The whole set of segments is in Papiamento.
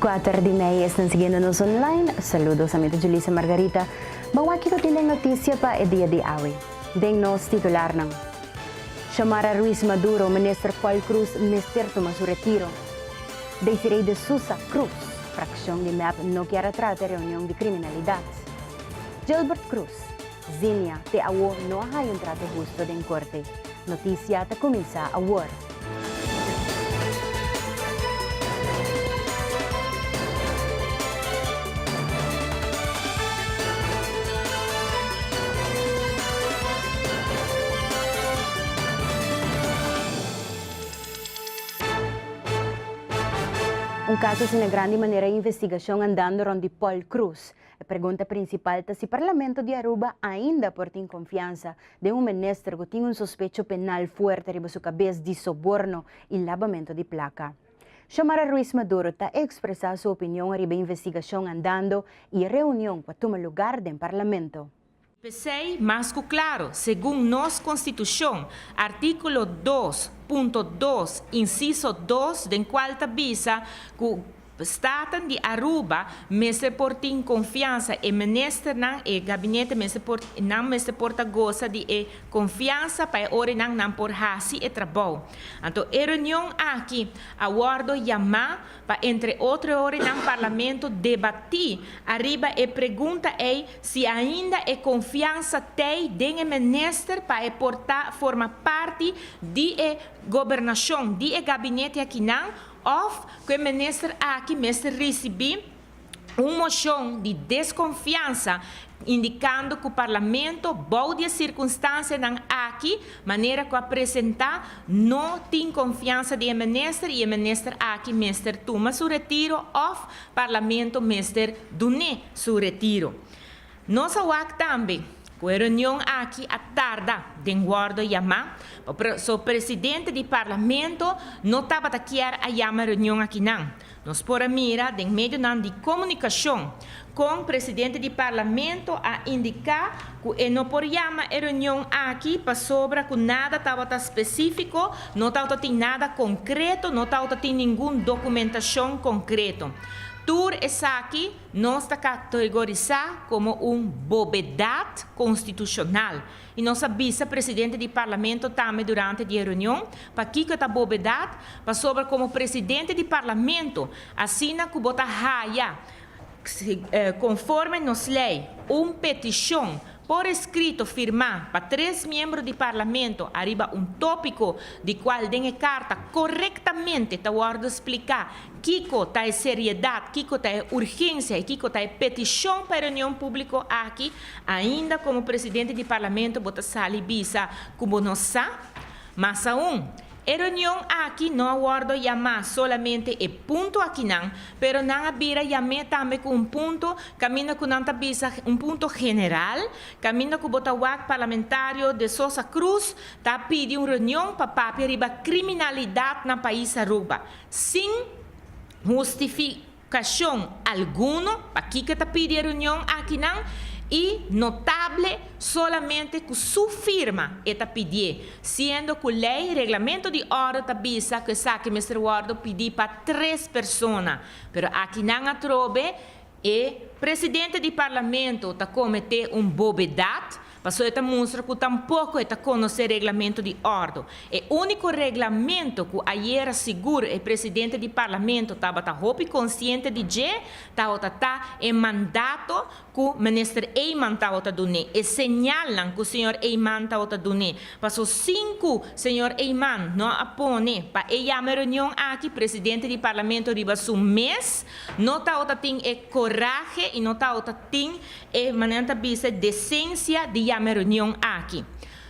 Kuater di mei esnan siguiendo nos online. Saludos, a mi ta Julissa Margarita. Bo wak kiko tin den noticia pa e dia di awe den nos titularnan? Xiomara Ruiz Maduro, Minister Paul Cruz mester tuma su retiro. Desiree de Sousa, Cruz, Fraccion di mep no kier a trata e reunion di criminalidad. Gilbert Cruz, Zimia, te awo no a haya un trato husto den corte. Noticia ta cuminsa awor. Un caso asina grandi manera e investigacion andando rond di Paul Cruz. E pregunta prinsipal ta si Parlamento di Aruba ainda por tin konfiansa den un minister ku tin un sospecho penal fuerte riba su kabes di soborno i labamento di plaka. Xiomara Ruiz Maduro ta ekspresá su opinion riba investigashon andando i e reunion ku a tuma lugar den Parlamento. P'esei, mas ku klaru, segun nos Konstitushon, artíkulo dos punto dos, insiso dos, den kual ta bisa ku Staten di Aruba mester por tin konfiansa, e Ministernan, e Gabinete mester por, nan mester por ta gosa di e konfiansa pa e orenan nan por hasi e trabou. Anto e reunion aki a wòrdu yamá pa entre otro ora nan Parlamento debatí ariba e pregunta ei si ainda e konfiansa t'ei den e Minister pa e por ta forma parti di e Gobernashon, di e Gabinete akinan òf ku e Minister aki mester risibí. un moshon di deskonfiansa indikando ku parlamento bou di e sirkunstansianan aki manera ku a presentá no tin konfiansa di e minister i e minister aki mester tuma su retiro òf parlamento mester dun'é su retiro. Nos a wak tambe cu e reunion aki a tarda den wordo yama pasobra presidente di Parlamento no tabata kier a yama e reunion aki nan. Nos por a mira den medionan di comunicacion con presidente di Parlamento a indica cu e no por yama e reunion aki pasobra cu nada tabata specifico, no tabata tin nada concreto, no tabata tin ningun documentacion concreto. Tur esaki. Nos ta kategorisá komo un bobedat konstitushonal i nos a bisa presidente di Parlamento tambe durante di e reunion pakiko e ta bobedat, pasobra komo presidente di Parlamento, asina ku bo ta haya konforme nos lei un petishon Por eskrito firmá pa tres miembro di Parlamento ariba un tópiko di kual den e karta korektamente ta wòrdu spliká kiko ta e seriedat, kiko ta e urgensia i kiko ta e petishon pa e reunion públiko aki, ainda komo presidente di Parlamento bo ta sali bisa ku bo no sa. Mas aun, E reunion aki no a wòrdu yamá solamente e punto akinan, pero nan a bira yam'é tambe ku un punto kaminda ku nan ta bisa un punto general, kaminda ku bo ta wak parlamentario De Sosa Cruz ta pidi un reunion pa papia riba kriminalidat na pais Aruba, sin hustifi. Kashon, Alguno, pakiko ta pidi e reunion akinan, i notable solamente ku su firma e ta pidié, siendo ku lei, reglamento di òrdu ta bisa ku esaki mester wòrdu pidi pa tres persona, pero akinan atrobe e Presidente di Parlamento ta kometé un bobedat Paso e ta mustra ku tampoko e ta konosé reglamentu di òrdu. E úniko reglamentu ku ayera sigur e presidente di Parlamento tabata hopi konsiente di dje tabata ta e mandato ku Minister Eijman tabata dun'é, e señalnan ku señor Eijman tabata dun'é. Paso sin ku señor Eijman no a pone pa e yama e reunion aki presidente di Parlamento riba su mes, no tabata tin e korahe i no tabata. Tin e manera nan ta bisa decencia di yama e reunion aki.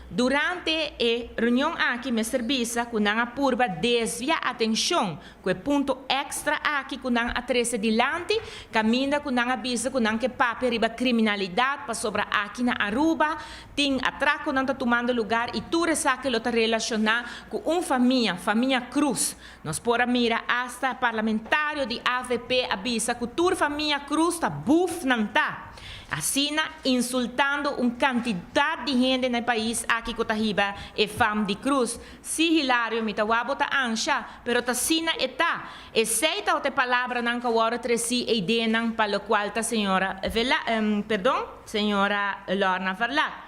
Durante e reunion aki mester bisa cu nan a purba desvia atencion cu e punto extra aki cu nan a trece dilanti, caminda cu nan a bisa cu nan ke papia riba criminalidad pasobra aki na Aruba tin atraconan ta tumando lugar y tur esaki lo ta relaciona cu un famia, famia Cruz, Nos por a mira asta parlamentario di avp a bisa cu tur famia Cruz ta buf nan ta asina insultando un cantidad di hende na e pais aki cu ta hiba e fam di Cruz, si Hilario mi ta wou bo ta ansha pero ta asina e ta, esey ta ot e palabranan cu a worde treci eidenan pa locual ta señora Vela, perdon, señora Lorna Verlaat.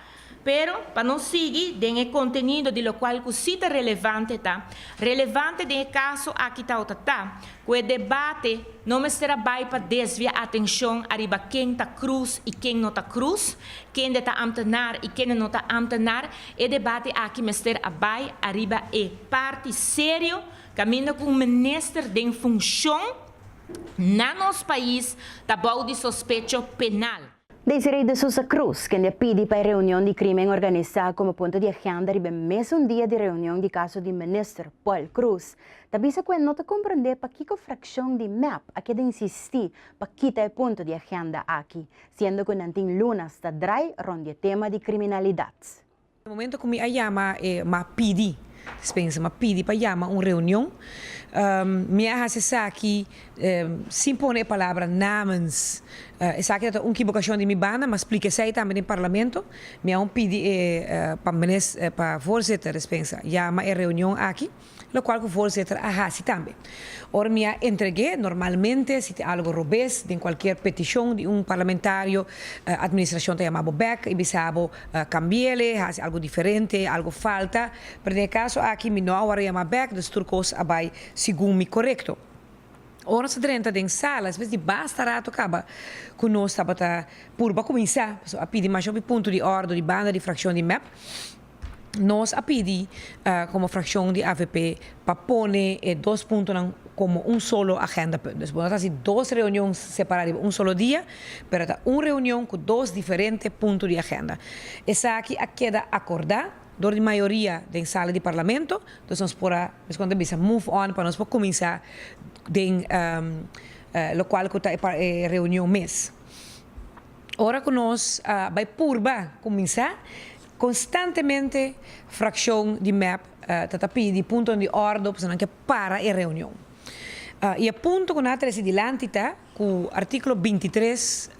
Pero, pa nos sigui den e contenido di locual cu si ta relevante ta, relevante den e caso aki tawata ta, cu e debate no mester a bay pa desvia atencion ariba ken ta Cruz y ken no ta Cruz, kende ta ambtenaar y kende no ta ambtenaar, e debate aki mester a bay ariba e parti serio caminda cu un minister den funcion na nos pais ta bou di sospecho penal. Desiree de Sousa Cruz, kende a pidi pa e reunion di crimen organisa como punto di agenda riba e mesun dia di reunion di caso di Minister Paul Cruz, ta bisa cu e no ta comprende pakico fraccion di mep a keda insisti pa kita e punto di agenda aki, siendo cu nan tin lunas ta draai rond di e tema di criminalidad. Momento cu mi a yama e m'a pidi, Spencer m'a pidi pa yama un reunion, mi a haci esaki sin pone e palabra namens. Esaki no ta un kibocacion di mi banda, m'a splica esey tambe den Parlamento. Mi a un pidi e pa Minis, pa Voorzitter Spencer, yama e reunion aki. Locual cu voorzitter a haci tambe. Ora mi a entregue, normalmente si tin algo robes den cualkier peticion di un parlamentario, administracion ta yama bo bek y bisa bo cambiele, haci algo diferente, algo falta, pero den e caso aki mi no a word yama bek, dus tur cos a bay segun mi corecto. Ora nos a drenta den sala, despues di basta rato caba cu nos tabata purba cuminsa, pasobra a pidi masho di punto di orde di banda di fraccion di mep, Nos a pidi komo frakshon di avp pa pone e dos puntonan komo un solo agendapunt. Dus bo no ta hasi dos reunion separá riba un solo dia, pero ta un reunion ku dos diferente punto di agenda. Esaki a keda akordá dor di mayoria den sala di Parlamento, dus nos por a mes kon ta bisa move on pa nos por kuminsá den lokual ku ta e reunion mes. Ora ku nos a bai purba kuminsá Konstantemente frakshon di mep ta ta pidi puntonan di òrdo pasobra nan ke para e reunion. I e punto ku nan a trese dilanti ta ku artíkulo binti tres,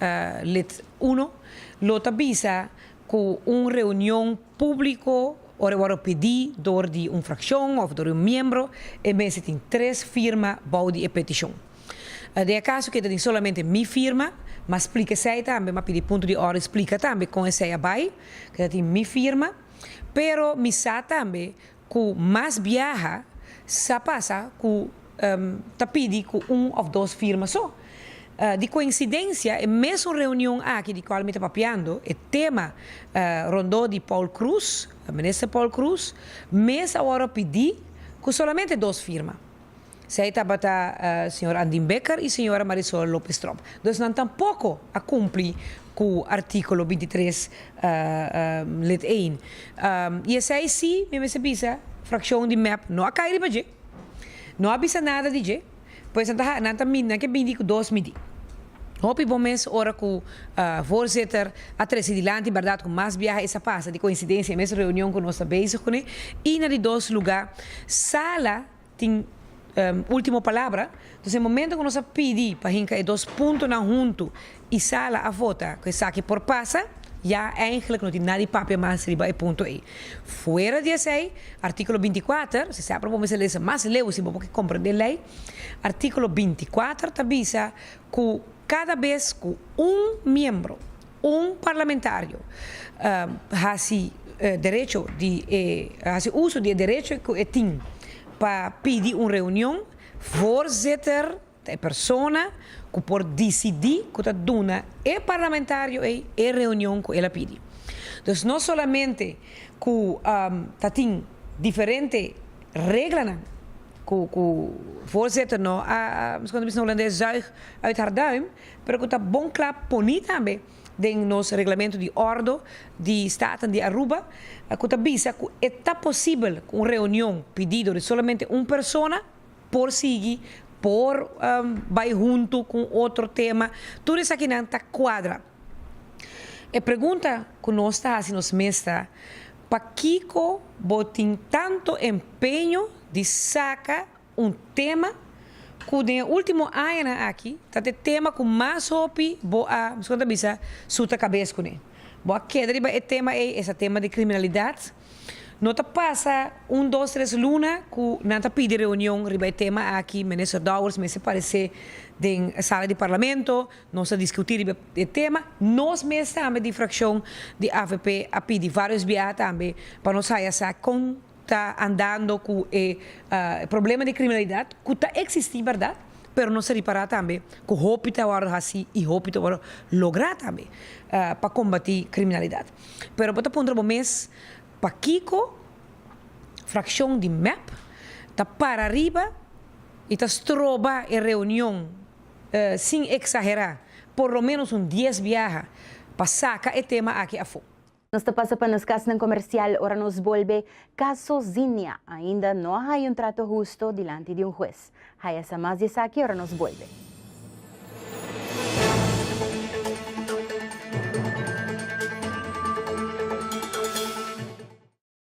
lit. Uno, lo ta bisa ku un reunion públiko ora e wòrdu pidi dor di un frakshon òf dor di un miembro e mester tin tres firma bou di e petishon. Di e kaso keda tin solamente mi firma, m'a splika esei tambe, m'a pidi punto di orde splika tambe kon esei a bai, keda tin mi firma, pero mi sa tambe ku mas biaha sa pasa ku ta pidi ku un òf dos firma so. Di koinsidensia e mesun reunion aki di kual mi ta papiando, e tema rondó di Paul Kruse, Minister Paul Kruse, mes awor a pidi ku solamente dos firma. Esei tabata señor Andin Bekker y señora Marisol Lopez Tromp. Dus nan tampoco a cumpli cu articulo binti tres, lid één. Y esei si, mi mester bisa, fraccion di mep no a cay riba dje, no a bisa nada di dje, pues nan ta ha, nan ta mi, nan ke mindi cu dos midi. Hopi bon mes ora cu Voorzitter a trece dilanti, bardad cu mas biaha es a pasa, di coincidencia e mes reunion cu nos ta bezig cune, y na di dos lugar, sala tin ultimo palabra, dus e momento cu nos a pidi pa hinca e dos puntonan hunto y sala a vota cu esaki por pasa, ya eindelijk no tin nadie papia mas riba e punto ey. Fuera di esey, articulo binti kuater, si sa probo mester lesa mas leu si bo por comprende ley, articulo binti kuater ta bisa cu cada bes cu un miembro, Un parlamentario hasi derecho di e hasi uso di e derecho ku e tin pa pidi un reunion, voorzitter ta e persona ku por disidi ku ta duna e parlamentario ei e reunion ku el a pidi. Dus no solamente ku ta tin diferente reglanan ku ku voorzitter no a, como se dice na Holandes, zuig uit haar duim, Pero ku ta bon kla poni tambe den nos Reglamento di Ordo di Staten di Aruba ku ta bisa ku e ta posibel ku un reunion pidido di solamente un persona por sigui, por bai huntu ku un otro tema, tur esakinan ta kuadra. E pregunta ku nos ta hasi nos mes ta, Pakiko bo tin tantu empeño di saka Un tema cu den e ultimo añanan aki ta t'e tema cu mas hopi bo a, miskien bo ta bisa, suta cabes cu ne. Bo a keda riba e tema ey, esa tema di criminalidad. No ta pasa un, dos, tres luna cu nan ta pidi reunion riba e tema aki, Minister Dowers mester parece den e sala di Parlamento, nos a discuti riba e tema. Nos mes tambe di fraccion di avp a pidi varios biaha tambe pa nos haya sa con. ta andando cu e problema di criminalidad cu ta existi berdad, pero nos ta ripara tambe cu hopi ta worde haci y hopi ta worde logra tambe pa combati criminalidad. Pero bo ta puntra bo mes, pakico fraccion di mep ta para riba y ta stroba e reunion, sin exagera, por lo menos un dies biaha pa saca e tema aki afo? Nos ta pasa pa nos kasnan komersial ora nos bolbe kaso Zinia ainda no a haya un trato husto dilanti di un hues. Haya sa mas di esaki ora nos bolbe.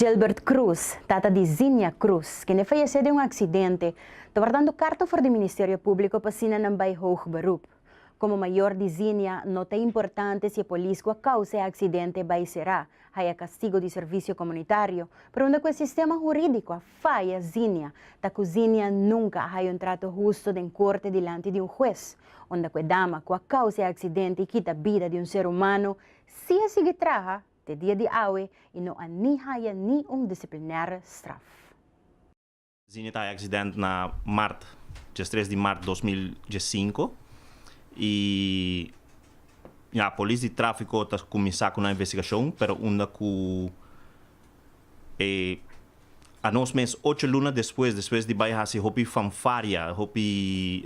Gilbert Cruz, tata di Zinia Cruz, kende fayesé den un aksidente, ta wardando karta for di Ministerio Públiko pa asina nan bai hoog beroep. Komo mayor di Zinia, no ta importante si e polis ku a kousa e aksidente bai será, haya kastigo di servisio komunitario, pregunta ku e sistema hurídiko a Faya Zinia ta cu Zinia nunca a haya un trato husto den corte dilanti di un huez, unda cu e dama cu a causa e accidente y kita bida di un ser humano si a sigui traha te dia di awe y no a ni haya ni un disciplinaire straf. Zinia ta haya accidente na mart, diestres di mart dos mil diescinco, y ya polis di trafico ta cuminsa cu nan investigacion, pero unda cu. E a nos mes ocho luna despues, despues di bai hasi hopi fanfaria, hopi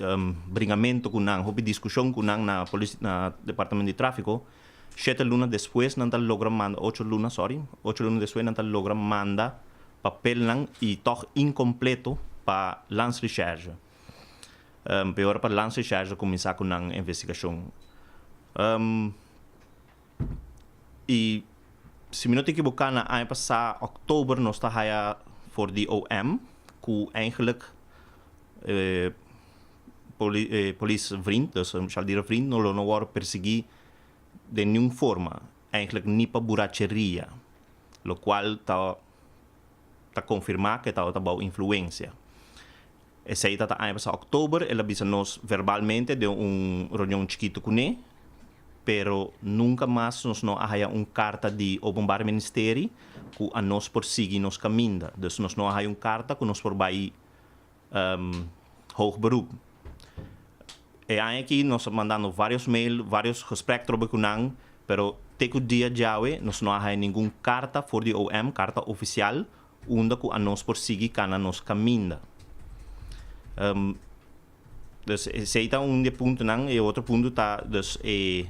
bringamento ku nan, hopi diskushon ku nan na polis na Departamento di Trafiko, shete luna despues nan ta logra manda, ocho luna, sorry, ocho luna despues nan ta logra manda papelnan i tòg inkompleto pa Landsrecherche. P'e ora pa Landsrecherche kuminsá ku nan investigashon. y si mi no ta ekiboká na aña pasá òktober nos ta haya for di OM ku eigenlik e poli e polis vriend dus e shaldira vriend no lo no wòrdu persiguí den niun forma eigenlik ni pa buracheria lokual ta ta konfirmá ke tabata bou influensia Esei ta ta aña pasá òktober, el a bisa nos verbalmente den un reunion chikitu kuné, pero nunka mas nos no a haya un karta di Openbare Ministeri ku a nos por sigui nos kaminda. Dus nos no a haya un karta ku nos por bai Hoog Beroep. E aña aki nos a mandando vários mail, vários gesprek trobe ku nan, pero te ku dia djawe nos no a haya ningun karta for di OM, karta ofisial, Unda ku anos por sigui kana nos kaminda? Dus esei ta un di e puntonan. E otro punto ta dus e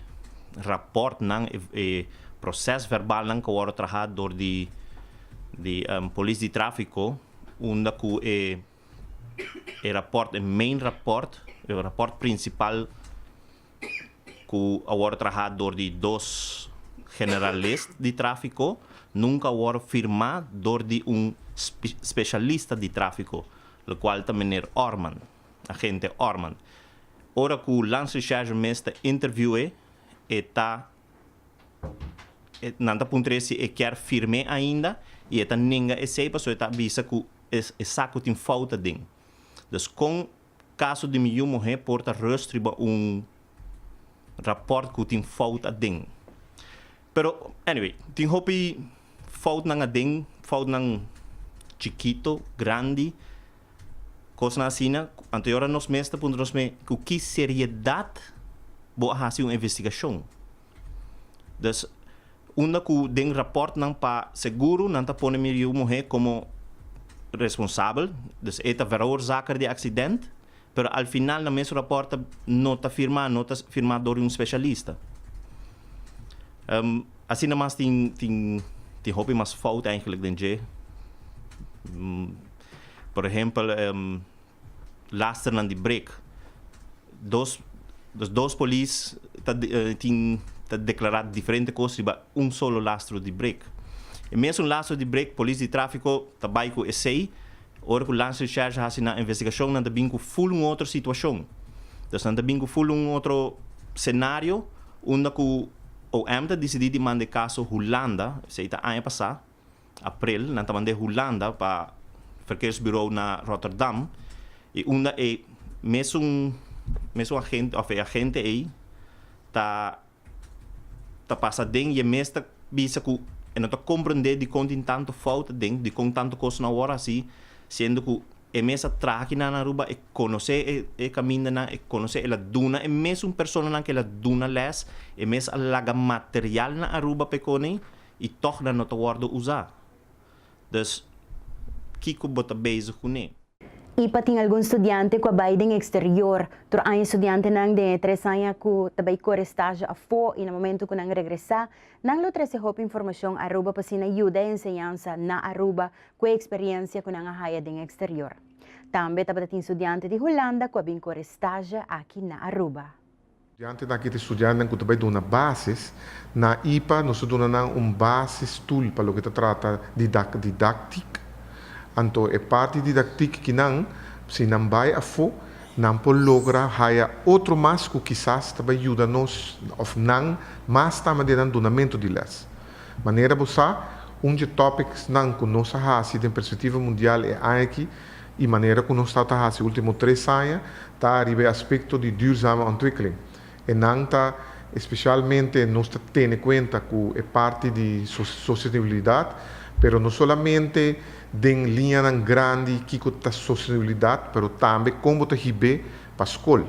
raportnan, e proses verbalnan ku a wòrdu trahá dor di di Polis di Tráfiko unda ku e e raport, e main raport, e raport prinsipal. ku a wòrdu trahá dor di dos generalis di tráfiko nunka a wòrdu firmá dor di un spesialista di tráfiko, lo kual ta Meneer Orman, Agente Orman. Ora ku Lance Richage mes ta interviu'é e ta nan ta puntr'é si e kier firm'é ainda i e ta nenga esei pasobra e ta bisa ku e sa ku tin fouta den. Dus kon Kaso di mi yu muhé por ta rust riba un rapòrt ku tin fout aden. Pero, anyway, tin hopi foutnan aden, foutnan chikito, grandi, kosnan asina. Anto yora nos mes ta puntra nos mes ku ki seriedat bo a hasi un investigashon? Dus, unda ku den rapòrtnan pa seguro nan ta pone mi riu muhé komo responsabel, dus e ta veroorzaker di aksident, pero al final nan mes rapòrt ta no ta firmá, no ta firmá dor di un spesialista. Asina mas tin tin tin hopi mas fout eigentlik den dje. Por ehempel. Lasternan di break. Dos los dos polis ta tin ta declara diferente cos riba un solo lastro di break. E mesun lastro di break polis di trafico ta bay cu esey. Ora cu Lance Recherche a haci nan investigacion nan ta bin cu full un otro situacion. Entonces nan ta bin cu full un otro scenario unda cu OM ta dicidi di manda e caso Hulanda, esey ta aña pasa. April, nan ta mand'é Hulanda pa Verkeersbureau na Rotterdam, i unda e mesun mesun agente òf e agente ei ta ta pasa den i e mes ta bisa ku e no ta komprendé dikon tin tantu fout aden, dikon tantu kos no a wòrdu hasí, siendo ku e mes a traha aki nan Aruba, e konosé e e kamindanan, e konosé, el a duna e mesun personanan ku el a duna lès, e mes a laga material na Aruba pa e koneí. i tòg nan no ta wòrdu usá. Dus, kiko bo ta bezig kuné? Ipa tin algun studiante ku a bai den eksterior. Tur aña studiantenan den e tres aña ku ta bai kore estágio afó i na momentu ku nan regresá, nan lo trese hopi informashon Aruba pa asina yuda e enseñansa na Aruba ku e eksperiensia ku nan a haya den eksterior. Tambe tabata tin studiante di Hulanda ku a bin kore estágio aki na Aruba. Dianti na kit estudiantenan ku ta bai duna basis, na ipa nos ta duna nan un basis tul pa loke ta trata di didaktik. Anto e parti didaktik ki nan, si nan bai afó, nan por logra haya otro mas ku kisas ta bai yuda nos òf nan mas tama den nan dunamentu di lès. Manera bo sa, un dje tòpiksnan ku nos a hasi den perspektiva mundial e aña aki, E manera ku nos ta ta hasi último tres aña ta ariba e aspekto di duurzame ontwikkeling. Enan ta espesialmente nos ta tene kuenta ku e parti di sostenibilidat, pero no solamente den liñanan grandi kiko ta sostenibilidat, pero tambe kon bo ta hib'é pa skol.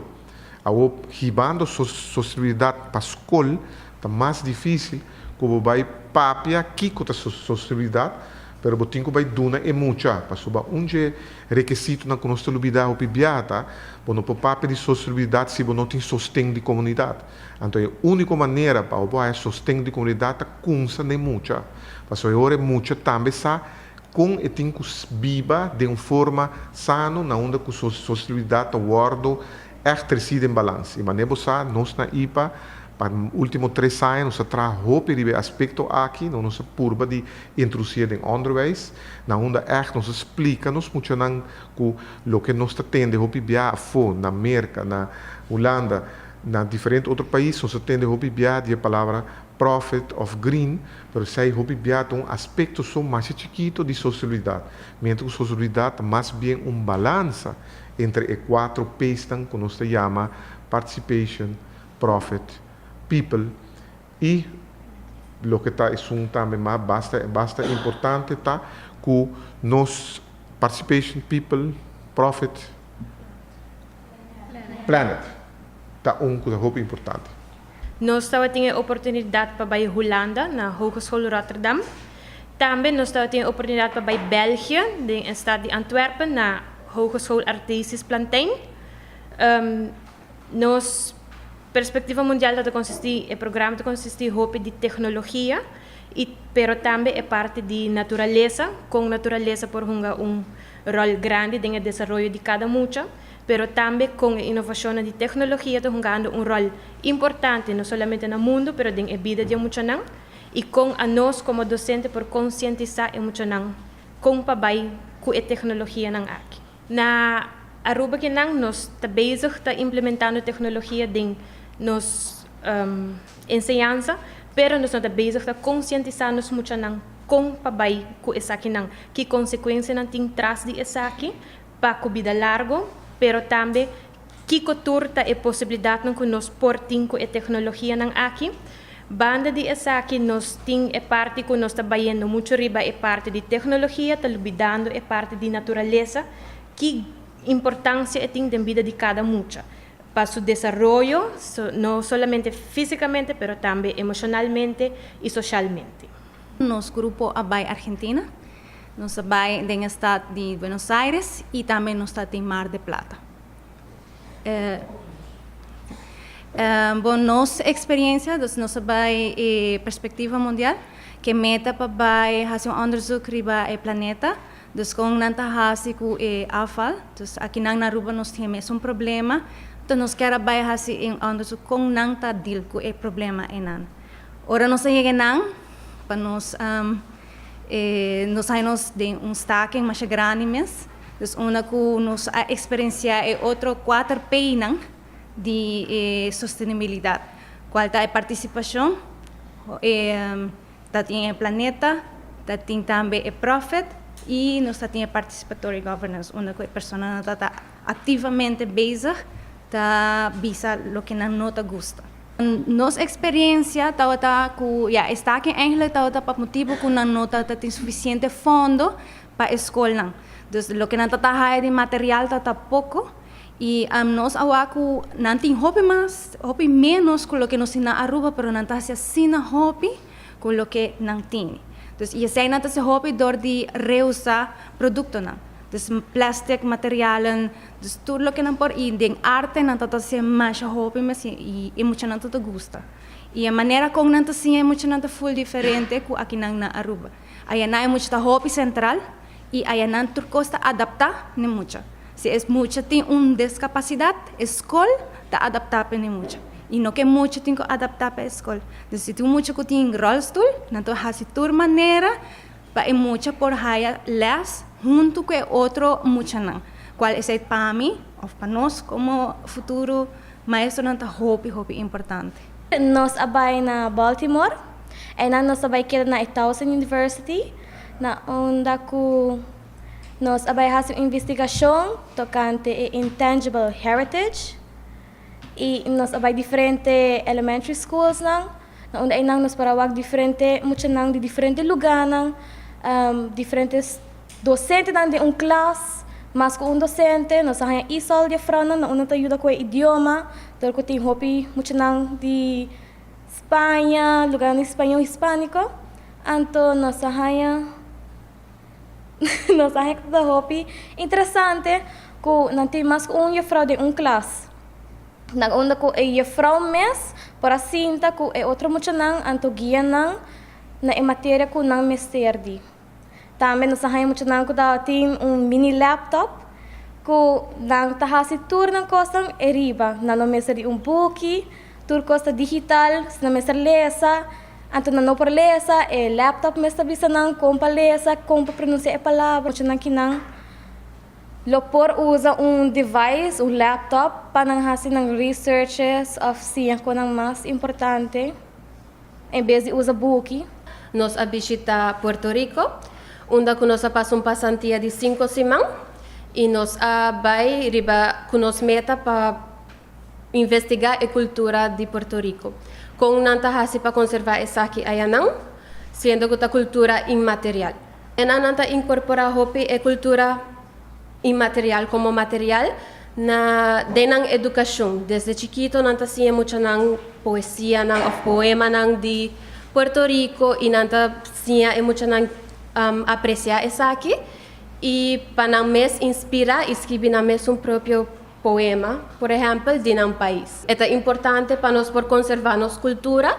Awor hibando sostenibilidat pa skol ta mas difísil ku bo bai papia kiko ta sostenibilidat, Pero bo tin cu bay duna e mucha, pasoba un dje rekesitonan cu nos ta lubida hopi biaha ta, bo no por papia di sostenubilidad si bo no tin sosten di comunidad. Anto e unico manera pa bo haya sosten di comunidad ta cunsa na e mucha, pasobra e ora e mucha tambe sa con e tin cu biba den un forma sano na unda cu su sostenubilidad ta wordo Ègt resi den balans. I manera bo sa, nos na ipa pa último tres aña nos a traha hopi riba e aspekto aki, nos nos a purba di introdusié den ònderwijs, na unda ègt nos a splika nos muchanan ku loke nos ta tende hopi bia afó, na Merka, na Hulanda, na diferente otro pais, nos a tende hopi bia di e palabra profit òf green, pero esei hopi bia ta un aspekto so masha chikito di sostenibilidat, miéntras ku sostenibilidat ta mas bien un balansa Entre e kuatro P'snan ku nos ta yama Participation, Profit, People i loke ta esun tambe mas basta basta importante ta ku nos Participation, People, Profit, Planet ta un ku ta hopi importante. Nos tabatin e oportunidat pa bai Hulanda na Hogeschool Rotterdam. Tambe nos tabatin e oportunidat pa bai België den e stat di Antwerpen na Hogeschool Artesius Plantin. Nos perspektiva mundial ta ta konsisti, e programa ta konsisti hopi di teknologia i pero tambe e parti di naturalesa, kon naturalesa por hunga un ròl grandi den e desaroyo di kada mucha. pero tambe kon e inovashonnan di teknologia ta hungando un ròl importante no solamente na mundu pero den e bida di e muchanan i kon anos komo dosente por konsientisá e muchanan kon pa bai ku e teknologianan aki. Na Aruba kinan nos ta bezig ta implementando teknologia den nos enseñansa pero nos no ta bezig ta konsientisá nos muchanan kon pa bai ku esakinan, ki konsekuensianan tin tras di esaki, pa cu bida largo, pero tambe kico tur ta e posibilidadnan cu nos por tin cu e tecnologianan aki. Banda di esaki nos tin e parti cu nos ta bayendo mucho riba e parti di tecnologia, ta lubidando e parti di naturalesa, ki importancia e tin den bida di cada mucha pa su desaroyo, no solamente fisicamente pero tambe emocionalmente y socialmente. Nos grupo a bay Argentina. Nos a bai den e stat di Buenos Aires y tambe nos ta tin Mar de Plata. Bon, nos experiencia, dus nos a bai e Perspectiva Mundial, cu e meta pa bai haci un onderzoek riba e planeta, dus con nan ta haci cu e afval. Dus akinan na Aruba nos tin e mesun problema, enton nos kier a bai haci e onderzoek con nan ta deal cu e problema enan. Ora nos a yega enan, pa nos. E nos hay nos den un staking masha grandi mes, dus unda cu nos a experiencia e otro cuater peinan di e sostenibilidad, cual ta e participacion e ta tin e planeta, ta tin tambe e profit y nos ta tin e participatory governance unda cu e personanan ta ta. Activamente bezig ta bisa loke nan no ta gusta. Nos experiencia tabata cu ya estaki eigenlijk tabata pa motibo cu nan no ta tin suficiente fondo pa e scolnan. Dus loke nan ta ta haya di material tabata poco y nos awa cu nan tin hopi mas, hopi menos cu loke nos tin na Aruba pero nan ta haci asina hopi. cu loke nan tin. Dus y esey nan ta ser hopi dor di reusa productonan. Dus plastic materialen, dus tur loke nan por y den arte nan ta ta ser masha hopi mes y e muchanan ta ta gusta. Y e manera con nan ta siña e muchanan ta full diferente cu akinan na Aruba. Ayana e mucha ta hopi central I aya nan tur kos ta adaptá ne mucha. Si e mucha tin un deskapasidad, e skol ta adaptá pa ne mucha. I no ke mucha tin ku adaptá pa e skol. Entonces si tin un mucha ku tin ròlstul, nan ta hasi tur manera pa e mucha por haya lès huntu ku e otro muchanan. Kual esei pa mi òf pa nos komo futuro maestronan ta hopi, hopi importante. Nos a bai na Baltimore. Einan nos ta bai keda na e Towson University. na unda ku nos a bai hasi un investigashon tokante e intangible heritage i nos a bai diferente elementary schoolsnan na unda einan nos por a wak diferente muchanan di diferente lugánan, diferente dosentenan den un klas, mas ku un dosente, nos a haña isòl di afrounan na unda ta yuda ku e idioma dor ku tin hopi muchanan di. Spaña, lugarnan di spañol hispánico, anto nos a haña nos a haña ku ta hopi interesante ku nan tin mas ku un yefrou den un klas. Nan unda ku e yefrou mes por a sinta ku e otro muchanan anto guia nan na e materia ku nan mester di. Tambe nos a haña muchanan ku ta tin un mini laptop ku nan ta hasi tur nan kosnan e riba. Nan no mester di un buki, tur kos ta digital, si nan mester lesa, anto nan no por lesa, e laptop mes ta bisa nan kon pa lesa, kon pa pronunsia e palabra. Muchanan kinan lo por usa un device, un laptop, pa nan hasi nan researches òf siña konan mas importante. En bes di usa buki, nos a bishita Puerto Rico, unda cu nos a pasa un pasantia di cinco siman y nos a bay riba cu nos meta pa investiga e cultura di Puerto Rico, con nan ta haci pa conserva esaki ayanan, siendo cu ta cultura inmaterial. E nannan ta inkorporá hopi e kultura inmaterial komo material na den nan edukashon. Desde chikito nan ta siña muchanan poesianan òf poemanan di Puerto Riko i nan ta siña e muchanan apresiá esaki i pa nan mes inspirá i skibi nan mesun propio poema, por ehèmpel di nan pais. E ta importante pa nos por konservá nos kultura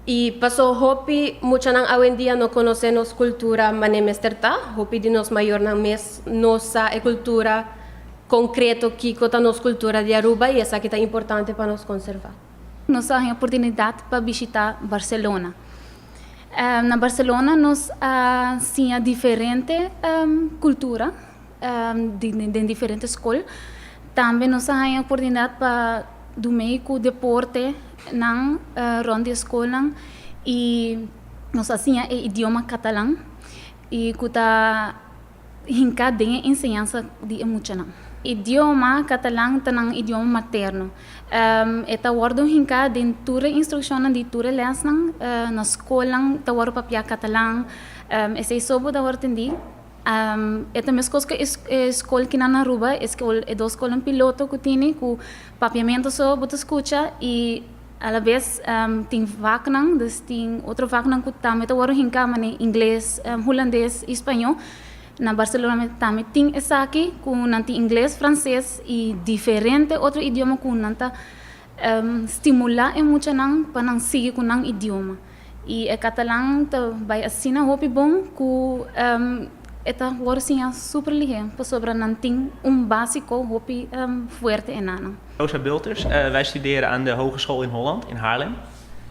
I paso hopi muchanan awendia no konosé nos kultura man'e mester ta. Hopi di nos mayornan mes no sa e kultura konkreto kiko ta nos kultura di Aruba i esaki ta importante pa nos konservá. Nos a haña oportunidat pa bishitá Barselona. Na Barselona nos a siña diferente kultura. den diferente skol. Tambe nos a haña oportunidat pa dun mei ku deportenan rònt di e skolnan i nos a siña e idioma katalan i ku ta hinká den e enseñansa di e muchanan. E idioma katalan ta nan idioma materno. E ta wòrdu hinká den tur e instrukshonnan di tur e lèsnan. Na skolnan ta wòrdu papiá katalan. Esei so bo ta wòrdu tendí. E ta meskos ku e skol ki nan Aruba, e skol e dos skolnan piloto ku tini ku papiamentu so bo ta skucha i alabes tin vaknan, dus tin otro vaknan ku tambe ta wòrdu hinká manera ingles, hulandes i spañó. Na Barcelona tambe tin esaki ku nan tin ingles, franses i diferente otro idioma ku nan ta Stimulá e muchanan pa nan sigui ku nan idioma. I e katalan ta bai asina hopi bon ku e ta wòrdu siñá super lihé pasobra nan tin un básiko hopi fuerte enanan. Rosa Bulters, Wij studeren aan de Hogeschool in Holland in Haarlem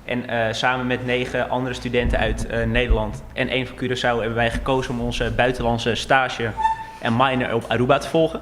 en samen met negen andere studenten uit Nederland en één van Curaçao hebben wij gekozen om onze buitenlandse stage en minor op Aruba te volgen.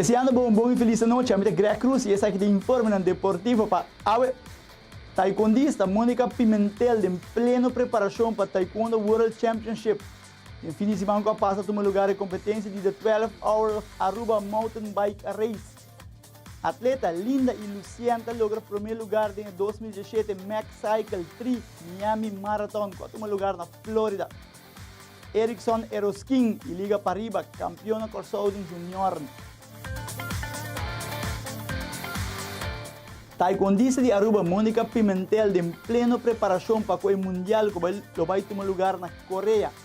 Deseando bo un bon y feliz anochi, ami ta Greg Cruz y esaki ta e informenan deportivo pa awe. Taekwondista Monica Pimentel den pleno preparacion pa Taekwondo World Championship. Den fin di siman cu a pasa tuma lugar e competencia di The 12 Hour of Aruba Mountain Bike Race. Atleta Linda y Lucien ta logra prome lugar den e dos mil dieshete Max Cycle Tri Miami Marathon cu a tuma lugar na Florida. Erickson Eroskin y Liga Pariba, campeon na Corsou den juniornan. Taekwondista di Aruba Monica Pimentel den pleno preparacion pa cu e Mundial cu lo bay tuma lugar na Corea.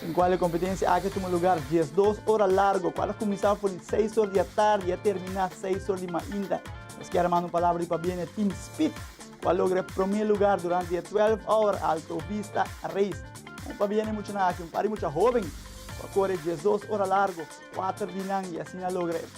Den kua e kompetensia aki a tuma lugar dies dos ora largo, kua a kuminsá for di seis ora di atardi i a terminá seis ora di mainta. Nos kier manda un palabra di pabia na e tim Speed, kua logra e promé lugar durante e twelf hour Alto Vista Race. Un pabia na e muchanan aki, un par di mucha hóben kua kore dies dos ora largo, kuater dinan i asina logra e.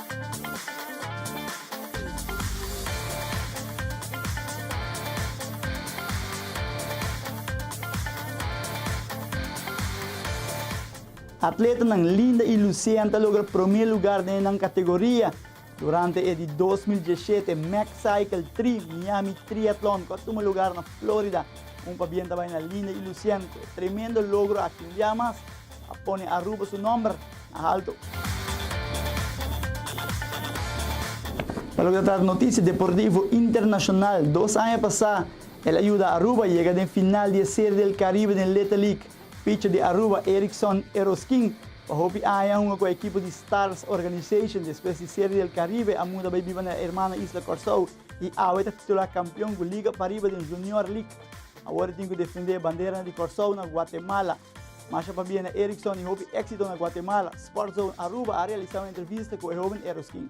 Atletanan Linda y Lucean ta logra prome lugar den e nan kategoria durante e di dos mil diesshete Mexcycle tri Miami Triathlon ku a tuma lugar na Florida. Un pabien ta bai na Linda y Lucean ku e tremendo logro aki. Un biaha mas. A pone Aruba su nomber na halto. Pa loke ta trata noticia deportivo internacional, dos aña pasa el a yuda Aruba yega den final di e Serie del Caribe den Lete League. Picher di Aruba, Erickson Eroskin, pa hopi aña a hunga cu e ekipo di Stars Organization despues di Serie del Caribe a muda bay biba na hermana isla Corsou y awe ta titular campeon cu liga pariba den Junior League. Awor e tin cu defende e bandera di Corsou na Guatemala. Masha pabia na Erickson y hopi exito na Guatemala, Sport Zone Aruba a realisa un entrevista cu e hoben Eroskin.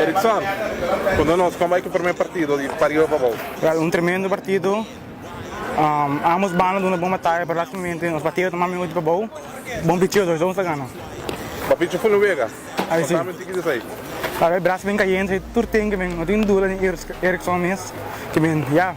Erickson, konta nos kon bai ku primer partido di Pariba pa bou? Wel un tremendo partido, ambos banda duna bon bataya pero lastimamente nos partido ta mas miutu pa bou, bon picheo dos dos nos ta gana. Bo pichi funda wega, kontami un tiki di esei. Awe bras a bin kayendo esei tur tempo kimin no tin duda den Erickson mes kimin ya.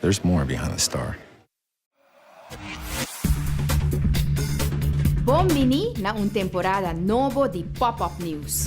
There's more behind the star. Bon bini na un temporada nobo di Pop Up News!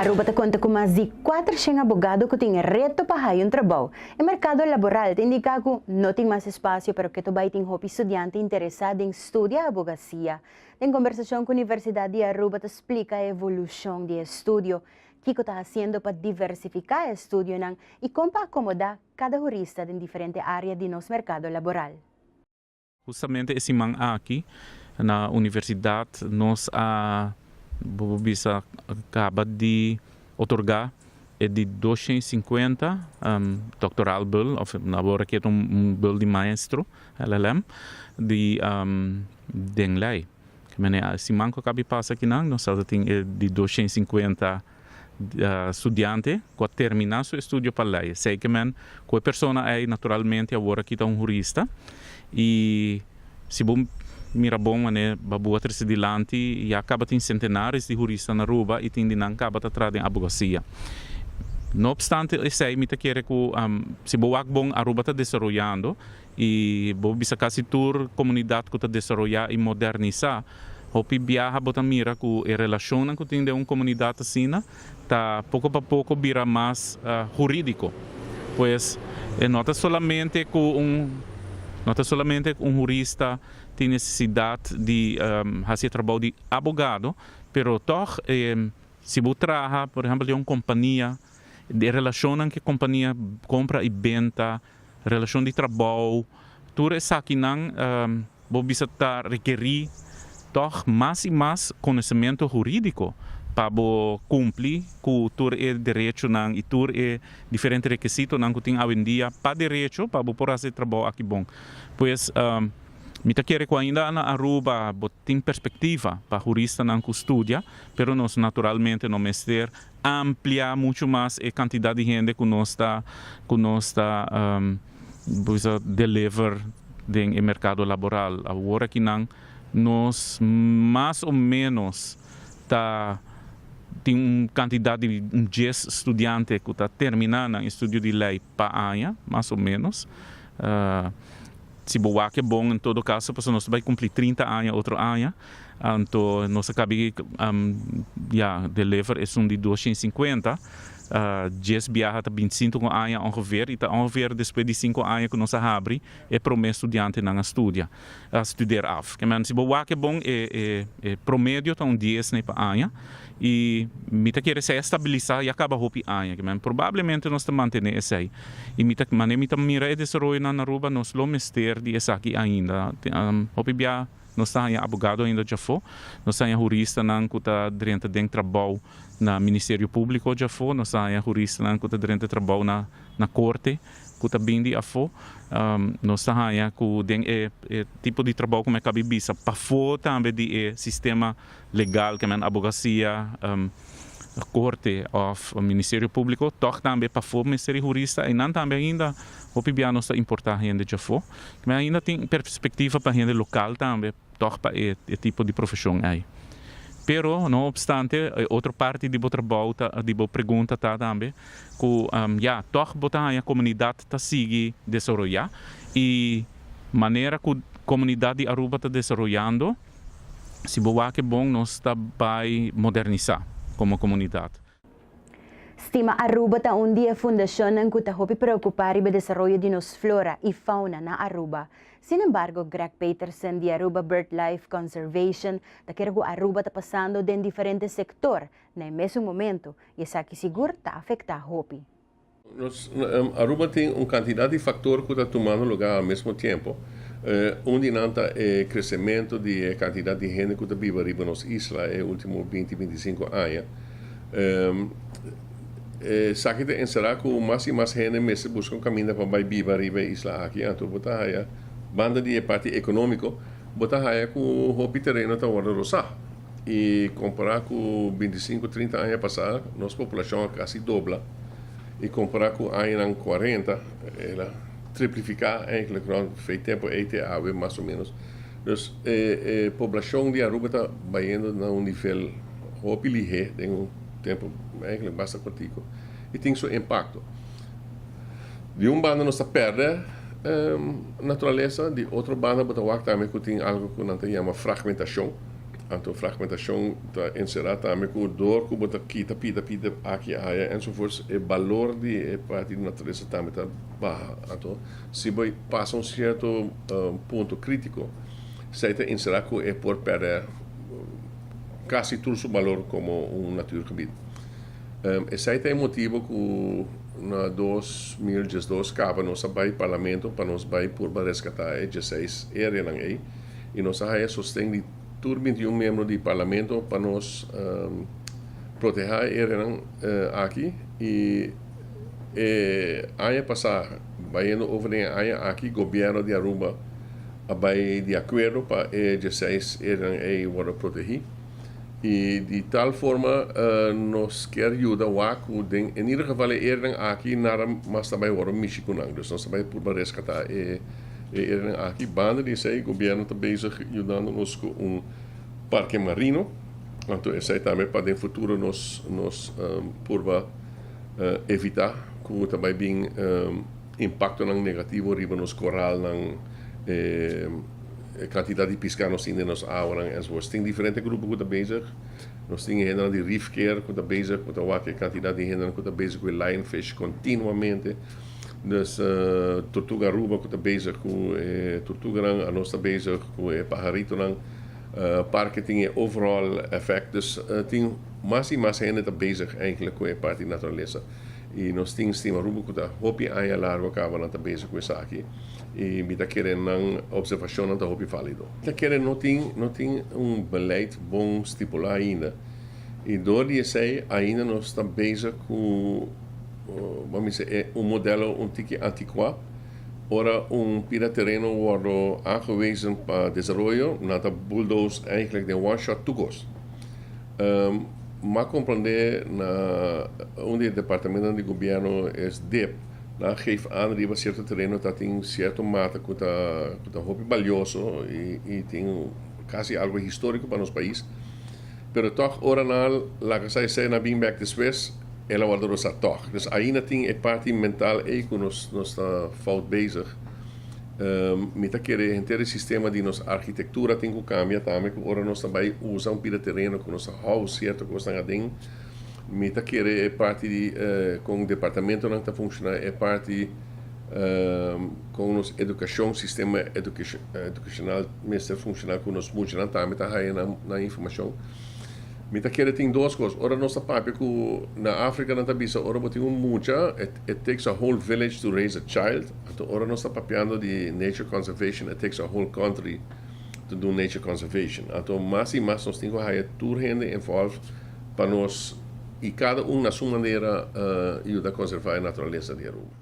Aruba ta konta ku mas di kuater shen abogado ku tin reto pa haya un trabou. E merkado laboral ta indiká ku no tin mas espasio pero keto bai tin hopi studiante interesá den studia abogasia. Den kombersashon ku Universidat di Aruba ta splika e evolushon di e studio, kiko ta hasiendo pa diversifiká e studionan i kon pa akomodá kada hurista den diferente área di nos merkado laboral. Hustamente e siman aki na universidat nos a, bo bisa, kaba di otorgá e di doshen i sinkuenta doktoral bul òf abora kiet un bul di maestro, LLM, di den lei. Manera a siman ku a kabi pasa akinan nos tabata tin e di doshen i sinkuenta studiante ku a terminá su estudio pa lei. Esei ke men ku e persona ei naturalmente abora kita un hurista i. Si bo mira bon manera Babua trese dilanti, ya caba tin centenares di jurista na Aruba y tin di nan caba ta traha den abogacia. No obstante esey, mi ta kere cu si bo wak bon Aruba ta desaroyando y bo bisa casi tur comunidad cu ta desaroya y modernisa, hopi biaha bo ta mira cu e relacionnan cu tin den un comunidad asina, ta poko pa poko bira mas hurídiko. Pues e no ta solamente ku un no ta solamente ku un hurista tin nesesidat di hasi e trabou di abogado, pero tòg e si bo traha, por ehèmpel den un kompania, e relashonnan ku e kompania kompra i benta Relashon di trabou, tur esakinan bo bisa ta rekerí tòg mas i mas konosementu hurídiko pa bo kumpli ku tur e derechonan i tur e diferente rekesitonan ku tin awendia pa derecho pa bo por hasi e trabou aki bon. Pues mi ta kere ku ainda na Aruba bo tin perspektiva pa huristanan ku studia, pero nos naturalmente no mester ampliá muchu mas e kantidat di hende ku nos ta ku nos ta bisa deliver den e merkado laboral. Awor akinan nos mas o ménos ta tin un kantidat di un dies studiante ku ta terminá nan estudio di lei pa aña, mas o ménos. Si bo wak e bon en todo caso pasobra nos ta bay cumpli trinta aña otro aña anto nos a cabi ya deliver esun di duoshen y cincuenta djes biaha ta binticintuco aña ongeveer y ta ongeveer despues di cinco aña cu nos a habri e prome studiantenan a studia a studer af. Kman si bo wak e bon e promedio ta un dies ne pa aña. I mi ta kere esei a stabilisa, ya kaba hopi aña aki, men probablemente nos ta mantene esei. I mi ta, mane mi ta mira e desaroyonan na Aruba, nos lo mester di esaki ainda. Hopi bia nos ta haña abogado ainda djafó, nos ta haña huristanan ku ta drenta den trabou na Ministerio Públiko djafó, nos ta haña huristanan ku ta drenta trabou na korte ku ta bin di afó. Nos ta haña ku den e tipo di trabou ku mi a kaba di bisa, pafó tambe di e sistema. legal ke men abogasia, korte òf ministerio públiko tòg tambe pafó mester e hurista einan tambe ainda hopi bia nos ta importá hende dje afó ke men ainda tin perspektiva pa hende lokal tambe tòg pa e e tipo di profeshon ei. Pero no opstante e otro parti di bo trabou ta di bo pregunta ta tambe ku ya tòg bo ta haña komunidat ta sigui desaroyá i manera ku komunidat di Aruba ta desaroyando, Si bo wak e bon nos ta bai modernisá komo komunidat. Stima Aruba ta un di e fundashonnan ku ta hopi preokupá riba desaroyo di nos flora i fauna na Aruba. Sin embargo, Greg Peterson di Aruba Birdlife Conservation ta kere ku Aruba ta pasando den diferente sektor na e mesun momentu i esaki sigur ta afektá hopi. Aruba tin un kantidat di faktor ku ta tumando lugá al mesmo tiempo. Un di nan ta e kresementu di e kantidat di hende ku ta biba riba nos isla e último binti, binti sinku aña. Esaki ta enserá ku mas i mas hende mester buska un kaminda pa bai biba riba e isla aki. Anto bo ta haya, banda di e parti ekonómiko, bo ta haya ku hopi tereno ta wòrdu rosá. I kompará ku binti sinku, trinta aña pasá, nos populashon a kasi dobla. I kompará ku añanan kuarenta, el a triplifiká enkele grond fei tempu ei te awe, mas o ménos. Dus, e e poblashon di Aruba ta bayendo na un nivel hopi lihé den un tempu enkele basta kortiku. I tin su impakto. Di un banda nos ta pèrdè naturalesa, di otro banda bo ta wak tambe ku tin algu ku nan ta yama fragmentashon. Anto fragmentashon ta enserá tambe ku dor ku bo ta kita pida pida aki i aya ensovoorts, e balor di e parti di naturesa tambe ta baha. Anto si bo pasa un sierto punto krítiko esei ta enserá ku e por pèrdè kasi tur su balor komo un natuurgebied. Esei ta e motibo ku na dos mil diesdos kaba nos a bai parlamento pa nos bai purba reskatá e dieseis ereanan ei. y nos a haya sosten di tur binti y un miembro di Parlamento pa nos proteha e areanan aki y e aña pasa bayendo over den e aña aki Gobierno di Aruba a bay di acuerdo pa e diesseis areanan ey wordo protehi y di tal forma nos kier yuda wak cu den en ieder geval e areanan aki nada mas ta bay wordo mishi cu nan, dus nos ta bay purba rescata e. E era'nan aki. Banda di esei gobierno ta bezig yudando nos cu un Parque Marino, anto esei tambe pa den futuro nos nos purba evita cu ta bay bin impactonan negativo riba nos coralnan, e cantidad di pisca nos tin den nos awanan enzovoort. Tin diferente grupo cu ta bezig. Nos tin e hendenan di Reef Care cu ta bezig, cu ta wak e cantidad di hendenan cu ta bezig cu e lionfish continuamente. Des Tortuga Aruba cu ta bezig cu e tortuganan, anos ta bezig cu e paharitonan. Parke tin e overall effect. Dus tin mas y mas hende ta bezig eindelijk cu e parti naturalesa. Y nos tin Stima Aruba cu ta hopi aña largo caba nan ta bezig cu esaki. Y mi ta kere nan observacionnan ta hopi valido. Mi ta kere no tin no tin un beleid bon stipula ainda. Y door di esey ainda nos ta bezig cu. Bo mi se e un modelo un tiki antikuá. Ora un pida tereno wòrdu aangewezen pa desaroyo, nan ta buldoos eigentlik den one shot tur kos. Mak komprondé na un di e departamentonan di gobièrnu es dip, nan geef aan riba sierto tereno ta tin sierto mata ku ta ku ta hopi balioso i tin kasi algu históriko pa nos pais. pero tòg ora nan al laga sa esei nan bin bèk despues, el a wòrdu rosa tòg. Dus aina tin e parti mental ei ku nos nos ta fout bezig. Mi ta kere henter e sistema di nos arkitektura tin ku kambia tambe ku ora nos ta bai usa un pida tereno ku nos ta hou sierto kosnan aden, mi ta kere e parti kon departamentonan ta funshoná, e parti. Kon nos edukashon, sistema edukashonal mester funshoná ku nos muchanan tambe ta haya nan informashon. Mi ta kere tin dos kos, ora nos ta papia ku na Afrika nan ta bisa ora bo tin un mucha it takes a whole village to raise a child, anto ora nos ta papiando di nature conservation it takes a whole country to do nature conservation. Anto mas i mas nos tin ku haya tur hende involve pa nos i kada un na su manera yuda konservá e naturalesa di e rubro.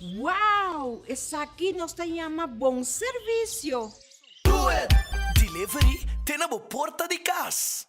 Wow! Esaki nos ta yama bon servicio! Do it! Delivery te na bo porta di cas!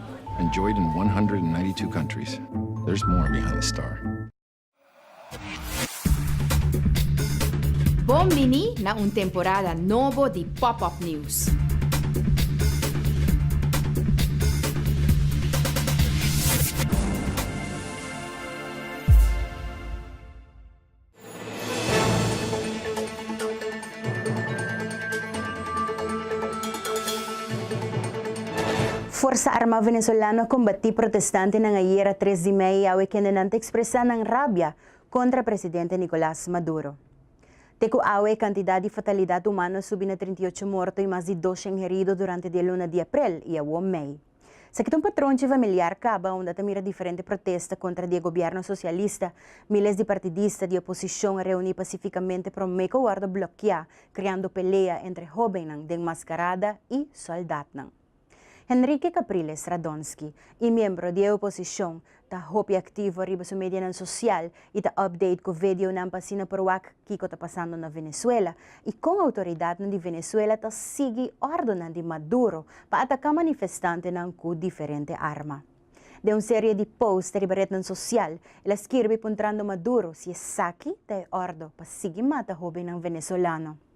Enjoyed in 192 countries, there's more behind the star. Bon bini na un temporada nobo di Pop Up News! Forsa armá venezolano a kombatí protestantenan ayer a tres di mei awe kende nan ta ekspresá nan rabia kontra presidente Nicolás Maduro. Te ku awe e kantidat di fatalidat humano a subi na trinta i ocho morto i mas di doshen herido durante di e luna di aprel i awor mei. Esaki ta un patronchi familiar kaba unda ta mira diferente protesta kontra di e gobièrnu sosialista. Míles di partidista di oposishon a reuní pasifikamente promé ku a wòrdu blokiá, kreando pelea entre hóbennan den maskarada i sòldatnan. Henrique Capriles Radonsky, i miembro di e oposishon, ta hopi aktivo riba su medianan sosial i ta update ku vedeonan pa asina por wak kiko ta pasando na Venezuela i kon outoridatnan di Venezuela ta sigui òrdunan di Maduro pa ataká manifestantenan ku diferente arma. Den un serie di post riba retnan sosial, el a skirbi puntrando Maduro si esaki ta e òrdu pa sigui mata hóbennan venezolano.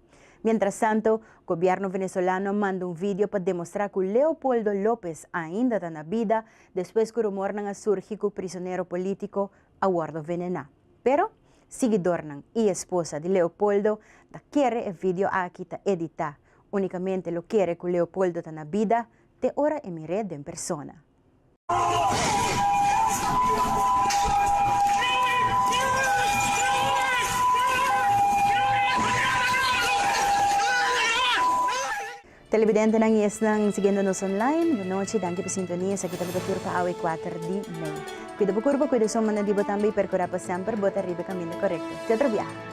Mientrasanto, gobièrnu venezolano manda un vidio pa demostrá ku Leopoldo López ainda ta na bida despues ku rumornan a surgi ku prisonero polítiko a wòrdu venená. Pero, siguidornan i esposa di Leopoldo ta kere e vidio aki ta editá, únikamente lo kere ku Leopoldo ta na bida te ora e mir'é den persona. Televidentenan y esnan siguiendo nos online, bo nochi, danki pa sintonia. Esaki ta bo ta tur pa awe kuater di mei. Cuida bo curpo, cuida e sombra na di bo tambe y percura pa semper bo ta riba e caminda corecto. Te otro biaha.